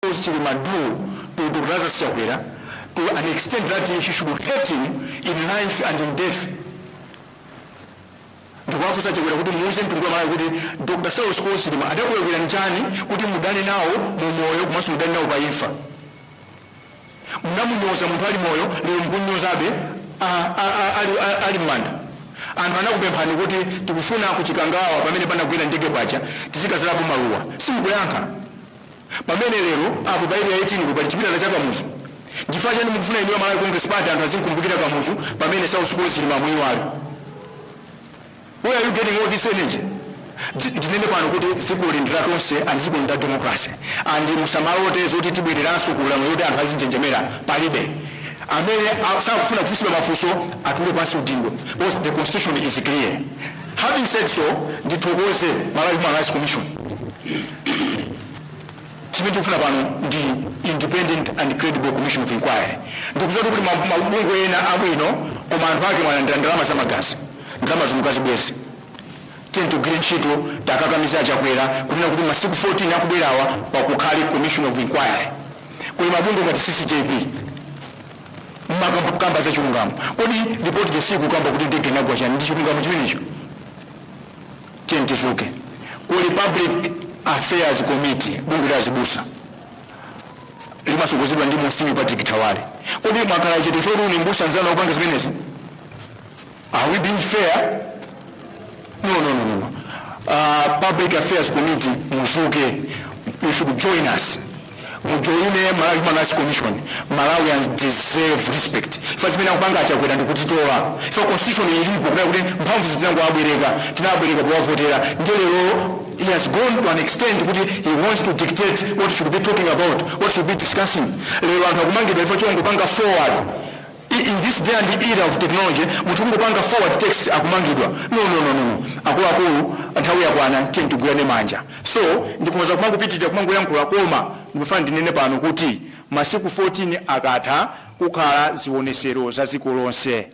Klaus Chilima do to Dr. Lazarus Chakwera to an extent that he should hate him in life and in death. ndikuwafunsa chakwera kuti muwuze mtundu wa malawi kuti dr saulos klaus chilima adakulakwirani chani kuti mudane nawo mu moyo komanso mudane nawo pa imfa Munamunyoza munthu ali moyo, lero mukumnyozabe a, a, a, ali, a, ali m'manda. Anthu anakupemphani kuti tikufuna ku Chikangawa pamene panagwera ndege paja tizikazalapo maluwa, simukuyankha. Pamene lero apo pa area 18 ku pali chipilala cha Kamuzu, nchifukwa chani mukufuna inuyo Malawi Congress Party anthu azinkumbukira Kamuzu pamene Saulos Klaus Chilima mwamuyiwala? Where are you getting all this energy? Ti- Tinene pano kuti dzikoli ndi la tonse and dzikoli ndi la democracy and musamalote zoti tibwereranso ku ulamuliro woti anthu azinjenjemera palibe amene a- sakufuna kufunsidwa mafunso atule pansi udindo because the constitution is clear having said so ndithokoze malawi human rights commission chimene tikufuna pano ndi independent and credible commission of inquiry ndikuziwa kuti ma- mabungwe ena abwino koma anthu ake mwalandira ndalama za magazi Ndalama zomwe mukazibweze. Tiyeni tigwire ntchito tiwakakamize a Chakwera kunena kuti masiku 14 akubwerawa pakukhale commission of inquiry. Kuli mabungwe ngati CCJP mumakonda kukamba za chilungamo. Kodi report losakamba kuti ndege inagwa chani ndi chilungamo chimenecho? Tiyeni tizuke. Kuli public affairs committee bungwe la azibusa limasogozedwa ndi Monsignor Patrick Thawale. Kodi mwakhala chete chifukwa ndi mbusa nzanu akupanga zimenezi? Are we being fair? No, no, no, no, no. Uh, Public Affairs Committee, muzuke, you should join us. mujoine malawi human rights commission malawians deserve respect ife zimene akupanga achakwera ndikutitola ife constitution ilipo kunena kuti mphamvu izi tinangowabwereka tinawabwereka powavotera ndiye lero he has gone to an extent kuti he wants to dictate what should be talking about what should be discussing lero anthu akumangidwa chifukwa chongopanga forward in this day and era of technology munthu kungopanga forward text akumangidwa no no no no no akuluakulu nthawi yakwana tiyeni tigwirane manja so ndikhoza kumangopitirira kumangoyankhula koma ndikufuna ndinene pano kuti masiku 14 akatha kukhale zionesero za dziko lonse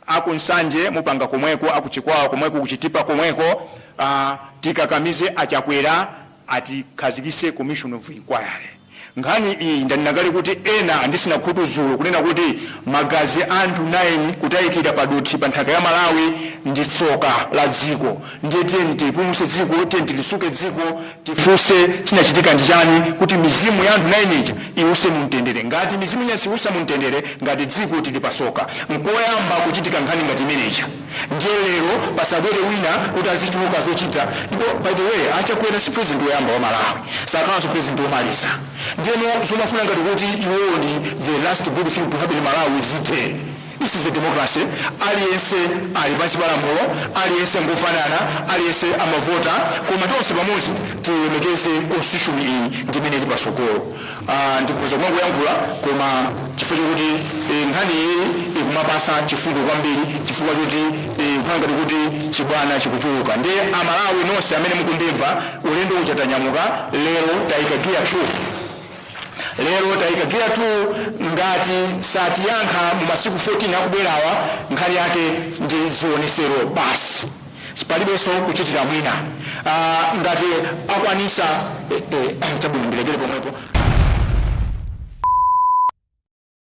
akunsanje mupanga komweko akuchikwawa komweko kuchitipa komweko uh, tikakamize achakwera akhazikise commission of inquiry nkhani iyi ndanena kale kuti ena anditsina khutu dzulo kunena kuti magazi anthu 9 kutayikira padothi pa nthaka ya malawi ndi tsoka la dziko ndiye tiyeni tipulumuse dziko tiyeni tilitsuke dziko tifuse chinachitika ndi chani kuti mizimu ya anthu 9 ija iwuse mumtendere ngati mizimu ija siwusa mumtendere ngati dziko tili patsoka nkoyamba kuchitika nkhani ngati imeneja Ndiye lero pasabwere wina kuti azichuluka zochita ndipo by the way a Chakwera si president woyamba wa Malawi sakhalanso president womaliza ndiyeno zomafuna ngati kuti iwowo ndi the last good thing to happen in Malawi zithe this is a democracy aliyense ali pansi pa lamulo aliyense ngofanana aliyense amavota koma tonse pamodzi tilemekeze constitution iyi ndi imene ili patsogolo Aaa ndikhoza kumangoyankhula koma chifukwa chokuti ee nkhani iyi ikumapatsa chifundo kwambiri chifukwa choti ee kukhala ngati kuti chibwana chikuchuluka nde a Malawi nonse amene mukundimva ulendo uja tanyamuka lero taika gear 2 lero taika gear 2 ngati satiyankha mu masiku 14 akubwerawa nkhani yake ndi zionesero basi. Palibenso kuchitira mwina aah ngati akwanisa eeh chabwino ndilekere pomwepo aah.